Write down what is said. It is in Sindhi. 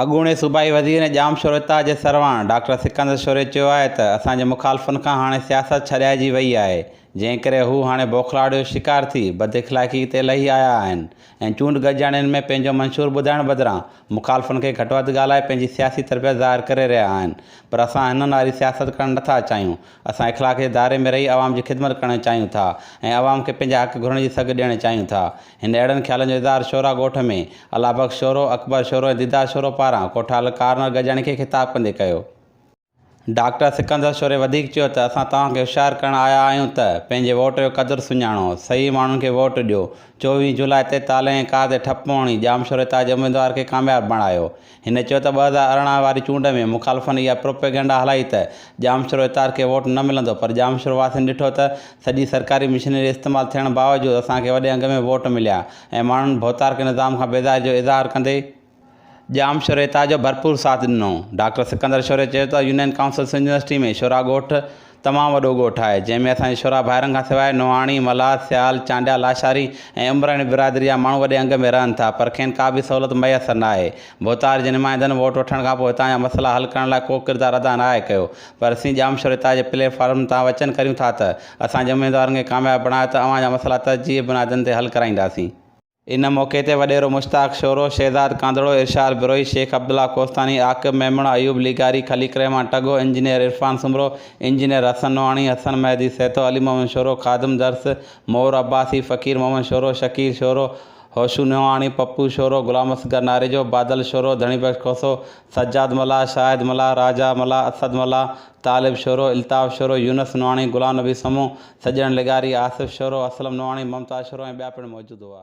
اڳوڻي صوبائي وزير ۽ ڄام شوريتا جي سرواڻ ڊاڪٽر سڪندر شوري چيو آهي ته اسان جي مخالفن کان هاڻي سياست ڇڏائجي وئي آهي، جنهن ڪري هو هاڻي بوکلاڙ جو شڪار ٿي بداخلاقي تي لهي آيا آهن ۽ چونڊ گڏجاڻين ۾ پنهنجو منشور ٻڌائڻ بدران مخالفن کي گهٽ وڌ ڳالهائي پنهنجي سياسي تربيت ظاهر ڪري رهيا آهن پر اسان هنن واري سياست ڪرڻ نٿا چاهيون اسان اخلاق جي دائري ۾ رهي عوام جي خدمت ڪرڻ چاهيون ٿا ۽ عوام کي پنهنجا حق گهرڻ جي سگهه ڏيڻ چاهيون ٿا هن اهڙن خيالن جو اظهار شورا ڳوٺ ۾ الله بخش شورو، اڪبر شورو ۽ ديدار شورو پاران ڪوٺال ڪارنر گجاڻي کي خطاب ڪندي ڪيو. ڊاڪٽر سڪندر شوري وڌيڪ چيو ته اسان توهان کي هوشيار ڪرڻ آيا آهيون ته پنهنجي ووٽ جو قدر سڃاڻو، صحيح ماڻهن کي ووٽ ڏيو، چوويهه جولاء تي تالي ۽ ڪار تي ٺپ هڻي ڄامشوري تان جي اميدوار کي ڪامياب بڻايو، هن چيو ته ٻه هزار ارڙهن واري چونڊ ۾ مخالفن اها پروپيگنڊا هلائي ته ڄامشورو اتار کي ووٽ نه ملندو پر ڄامشورو واسين ڏٺو ته سڄي سرڪاري مشينري استعمال ٿيڻ باوجود اسان کي وڏي انگ ۾ ووٽ مليا ۽ ماڻهن ڀوتارڪ نظام کان بيزاري جو اظهار ڪندي ڄامشوري اتار جو ڀرپور ساٿ ڏنو. ڊاڪٽر سڪندر شوري چيو ته union council Sindh university ۾ Shoro ڳوٺ، تمام وڏو ڳوٺ آهي، جنهن ۾ اسان جي شرح ڀائرن کان سواء نوحاڻي، ملهار، سيال، چانڊيا، لاشاري ۽ عمراڻي برادري جا ماڻهو وڏي انگ ۾ رهن ٿا، پر کين ڪا به سهولت ميسر ناهي. ڀوتار جي نمائندن ووٽ وٺڻ کانپوء هتان جا مسئلا حل ڪرڻ لاء ڪو ڪردار ادا ناهي ڪيو، پر اسين ڄامشوري تاء جي پليٽ فارم تان وچن ڪريون ٿا ته، اسان جي اميدوارن کي ڪامياب بڻايو ته اوهان جا مسئلا ترجيحي بنادن تي حل ڪرائينداسين. ان موقعي تي وڏيرو مشتاق شورو، شهزاد ڪانڌڙو، ارشاد بروهي، شيخ عبدالله ڪوستاني، عاقب ميمڻ، ايوب لغاري، خليق الرحمان ٽڳو، انجنيئر عرفان سومرو، انجنيئر حسن نوحاڻي، حسن مهدي سهتو، علي محمد شورو، خادم درس، مور عباسي، فقير محمد شورو، شڪيل شورو، هوشو نوحاڻي، پپو شورو، غلام اصغر ناريجو، بادل شورو، ڌڻي بخش کوسو، سجاد ملاح، شاهد ملاح، راجا ملاح، اسد ملاح، طالب شورو، الطاف شورو، يونس نواڻي، غلام نبي سمون، سڄڻ لغاري، آصف شورو، اسلم نواڻي، ممتاز شورو ۽ ٻيا پڻ موجود هئا.